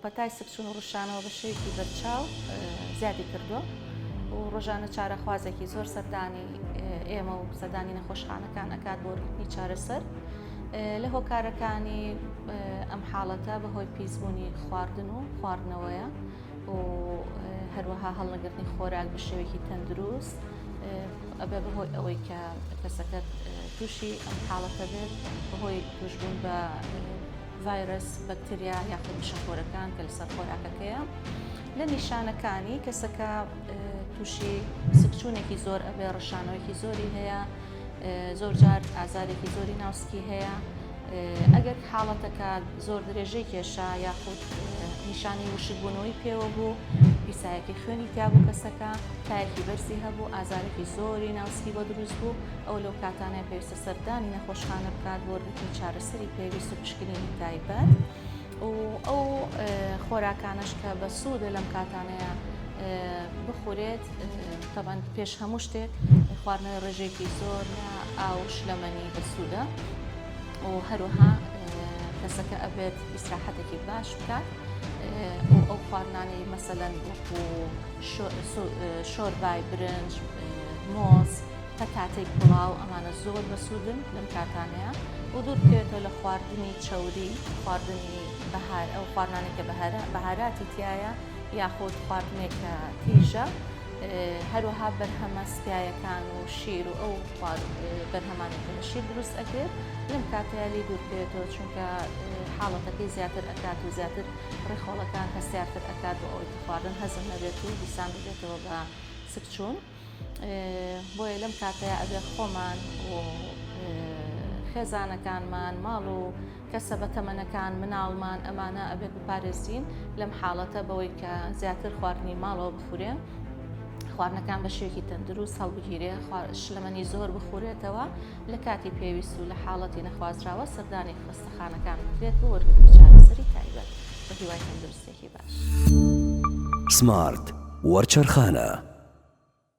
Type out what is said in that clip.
پەتای سکچوون و ڕشانەوە بە شێوەیەکی بەرچاو زیادی کردووە و ڕۆژانە چارەخوازێکی زۆر سەردانی ئێمە و سەردانی نەخۆشخانەکان ئەکات بۆ ڕیتمی چارەسەر لە هۆکارەکانی ئەم حاڵەتە بەهۆی پیسبوونی خواردن و خواردنەوەیە و هەروەها هەڵنەگرتنی خۆراک بە شێوەیەکی تەندروست ئەبێ بەهۆی ئەوەی کە کەسەکەت تووشی ئەم حاڵەتە بێت بەهۆی توشبوون بە ڤایرەس، بەکتریا یاخود مشەخۆرەکان کە لەسەر خۆراکەکەیە لە نیشانەکانی کەسەکە تووشی سکچوونێکی زۆر ئەبێ ڕشانەوەیکی زۆری هەیە زۆر جار ئازارێکی زۆری ناوسکی هەیە ئەگەر حاڵەتەکە زۆر درێژەی کێشا یاخود نیشانی وشکبوونەوەی پێوە بوو پیسایەکی خوێنی تیابوو کەسەکە تایەکی بەرزی هەبوو ئازارێکی زۆری ناوسکی بۆ دروست بوو ئەو لەو کاتانە پێویستە سەردانی نەخۆشخانە بکات بۆ وەرگرتنی چارەسەری پێویست و پشکنینی تایبەت و ئەو خۆراکانەش کە بە سوودە لەم کاتانەیە بخورێت تەبەند پێش هەموو شتێک خواردنەوەی ڕێژێکی زۆر لە ئاو شلەمەنی بەسوودە و هەروەها کەسەکە ئەبێت ئیسراحەتێکی باش بکات و ئەو خواردنانەی مەسەلەن وەکو شۆربای برنج مۆز تا کاتێک پڵاو ئەمانە زۆر بەسوودن لەم کاتانەیە و دوور بکەوێتەوە لە خواردنی چەوری خواردنی بەهار ئەو خواردنانە کە بەهارە بەهاراتی تایە یاخود خواردنێک کە تیژە هەروەها بەرهەمە سکایەکان و شیر و ئەو بەرهەمانی کە لە شیر دروست ئەکرێت لەم کاتەیە لێ دوور بکەوێتەوە چونکە حاڵەتەکەی زیاتر ئەکات و زیاتر ڕێخۆڵەکان هەستیارتر ئەکات و ئەوەی خواردن هەزم نەبێت و دیسان ببێتەوە بە سکچوون. بۆیە لەم کاتەیا ئەبێ خۆمان و خێزانەکانمان ماڵ و کەسە بە تەمەنەکان مناڵمان ئەمانە ئەبێت بپارێزین لەم حاڵەتە بەوەی کە زیاتر خواردنی ماڵەوە بخورێن خواردنەکان بە شێوکی تەندروست هەڵبگیرێ شلەمەنی زۆر بخورێتەوە لە کاتی پێویست و لە حاڵەتی نەخوازراوە سەردانی خستەخانەکان بکرێت بۆ وەرگرتنی چارەسەری تایبەت بە هیوای تەندروستێکی باش سمارت وەرچەرخانە.